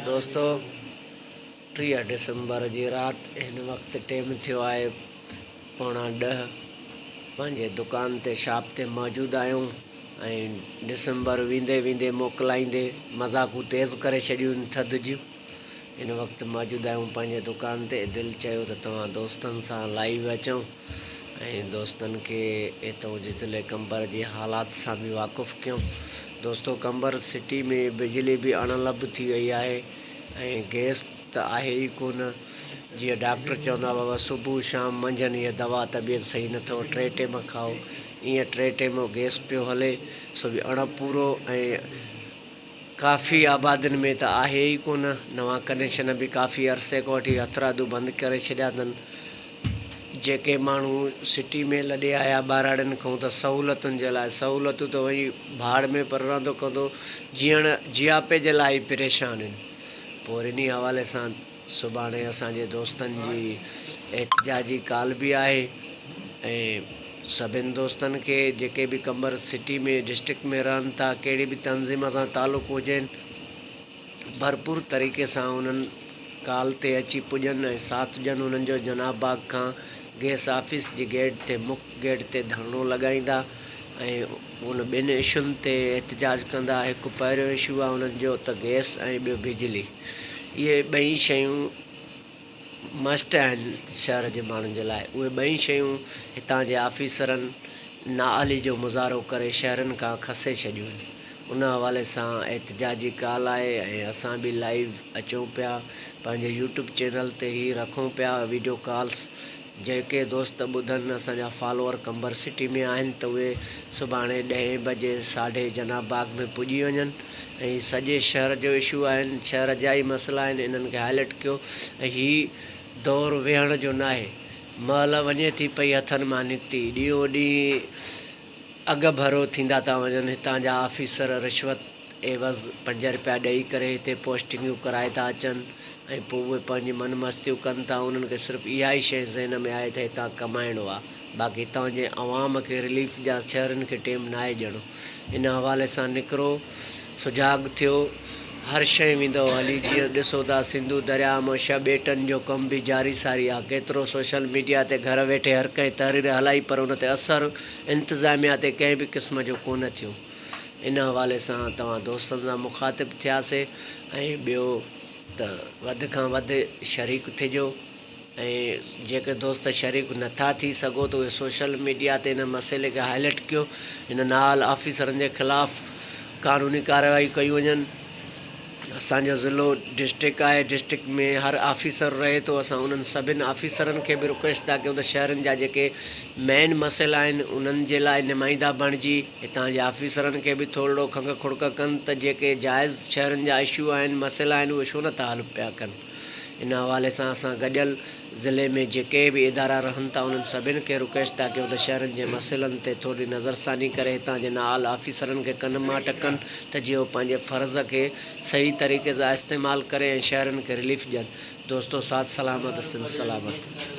دوستو ٽيهه ڊسمبر جي رات هن وقت ٽيم ٿيو آهي پوڻا ڏهه پنهنجي دڪان تي شاپ تي موجود آهيون ۽ ڊسمبر ويندي ويندي موڪلائيندي مذاقون تيز ڪري ڇڏيون آهن ٿڌ جون هن وقت موجود آهيون پنهنجي دڪان تي دل چيو ته توهان دوستن سان لائيو اچون ۽ دوستن کي اتئون جي ضلعي قمبر جي حالات سان به واقف ڪيم. دوستو قمبر سٽي ۾ بجلي به اڻ لڀ ٿي وئي آهي ۽ گئس ته آهي ئي ڪونه. جيئن ڊاڪٽر چوندا بابا صبح شام منجهن هيء دوا طبيعت صحيح نه اٿئو ٽي ٽيم کائو ايئن ٽي ٽيم گئس پيو هلي سو به اڻ پورو ۽ ڪافي آبادين ۾ ته آهي ئي ڪونه نوان ڪنيشن به ڪافي عرصي کان وٺي هٿرادو بند ڪري ڇڏيا اٿن. جيڪي ماڻهو سٽي ۾ لڏي آيا ٻهراڙين کان ته سهولتن جي لاء سهولتون ته وڃي ڀاڙ ۾ پر رهندو ڪندو جيئڻ جياپي جي لاء ئي پريشان آهن پوء وري انهي حوالي سان سڀاڻي اسان جي دوستن جي احتجاجي ڪال به آهي ۽ سڀين دوستن کي جيڪي به قمبر سٽي ۾ ڊسٽرڪٽ ۾ رهن ٿا ڪهڙي به تنظيم سان تعلق هجين ڀرپور طريقي سان انهن ڪال تي اچي پڄن ۽ ساٿ ڏين، انهن جو جناح باغ کان گئس آفيس جي گيٽ تي مک گيٽ تي ڌرڻو لڳائيندا ۽ ان ٻن اشون تي احتجاج ڪندا، هڪ پهريون اشو آهي انهن جو ته گئس ۽ ٻيو بجلي اهي ٻئي شيون. مسٽ آهن شهر جي ماڻهن جي لاء اهي ٻئي شيون هتان جي آفيسرن نااهلي جو مظاهرو ڪري شهرين کان کسي ڇڏيون ان حوالي سان احتجاجي ڪال آهي ۽ اسان به لائيو اچون پيا پنهنجي يوٽيوب چينل تي هي رکون پيا وڊيو ڪالس جيڪي دوست ٻڌن اسان جا فالوور قمبر سٽي ۾ آهن ته اهي سڀاڻي ڏهين بجي ساڍي جناح باغ ۾ پڄي وڃن ۽ سڄي شهر جو اشو آهن شهر جا ئي مسئلا آهن انهن کي هائلٽ ڪيو ۽ هي دور ويهڻ جو ناهي مهل وڃي ٿي پئي هٿن مان نڪتي ڏينهون ڏينهن اڳڀرو ٿيندا ٿا وڃن هتان جا آفيسر رشوت عيوض پنج رپيا ڏئي ڪري هتي پوسٽنگيون ڪرائي ٿا اچن ۽ پوء اهي پنهنجي من مستيون ڪن ٿا انهن کي صرف اها ئي شيء ذهن ۾ آهي ته هتان ڪمائڻو آهي باقي هتان جي عوام کي رليف جا شهرين کي ٽيم ناهي ڄڻو ان حوالي سان نڪرو سجاڳ ٿيو هر شيء ويندو هلي جيئن ڏسو ٿا سنڌو درياء مان ڇهه ٻيٽن جو ڪم به جاري ساري آهي ڪيترو سوشل ميڊيا تي گهر ويٺي هر ڪنهن تحرير هلائي پر ان تي اثر انتظاميا تي ڪنهن به قسم جو ڪونه ٿيو ان حوالي سان توهان دوستن سان مخاطب ٿيا سي ۽ ٻيو ته وڌ کان وڌ شريڪ ٿجو ۽ جيڪي دوست شريڪ نٿا ٿي سگهو ته اهي سوشل ميڊيا تي ان مسئلي کي هائلٽ ڪيو ان نااهل آفيسرن جي خلاف قانوني ڪارروائيون ڪيون وڃن. اسان جو ضلعو ڊسٽرڪٽ آهي ڊسٽرڪٽ ۾ هر آفيسر رهي ٿو اسان انهن سڀن آفيسرن کي به رڪويسٽ ٿا ڪيون ته شهرن جا جيڪي مين مسئلا آهن انهن جي لاء نمائندا بڻجي هتان جي آفيسرن کي به ٿورڙو کنگهه کڙڪ ڪن ته جيڪي جائز شهرن جا اشو آهن مسئلا آهن اهي ڇو نه ٿا حل پيا ڪن. ان حوالي سان اسان گڏيل ضلعي ۾ جيڪي به ادارا رهن ٿا انهن سڀني کي رڪويسٽ ٿا ڪيون ته شهرين جي مسئلن تي ٿورڙي نظرثاني ڪري هتان جي نااهل آفيسرن کي ڪن مان ٽڪن ته جيئن هو پنهنجي فرض کي صحيح طريقي سان استعمال ڪري ۽ شهرين کي رليف ڏين دوستو ساٿ سلامت سنڌ سلامت.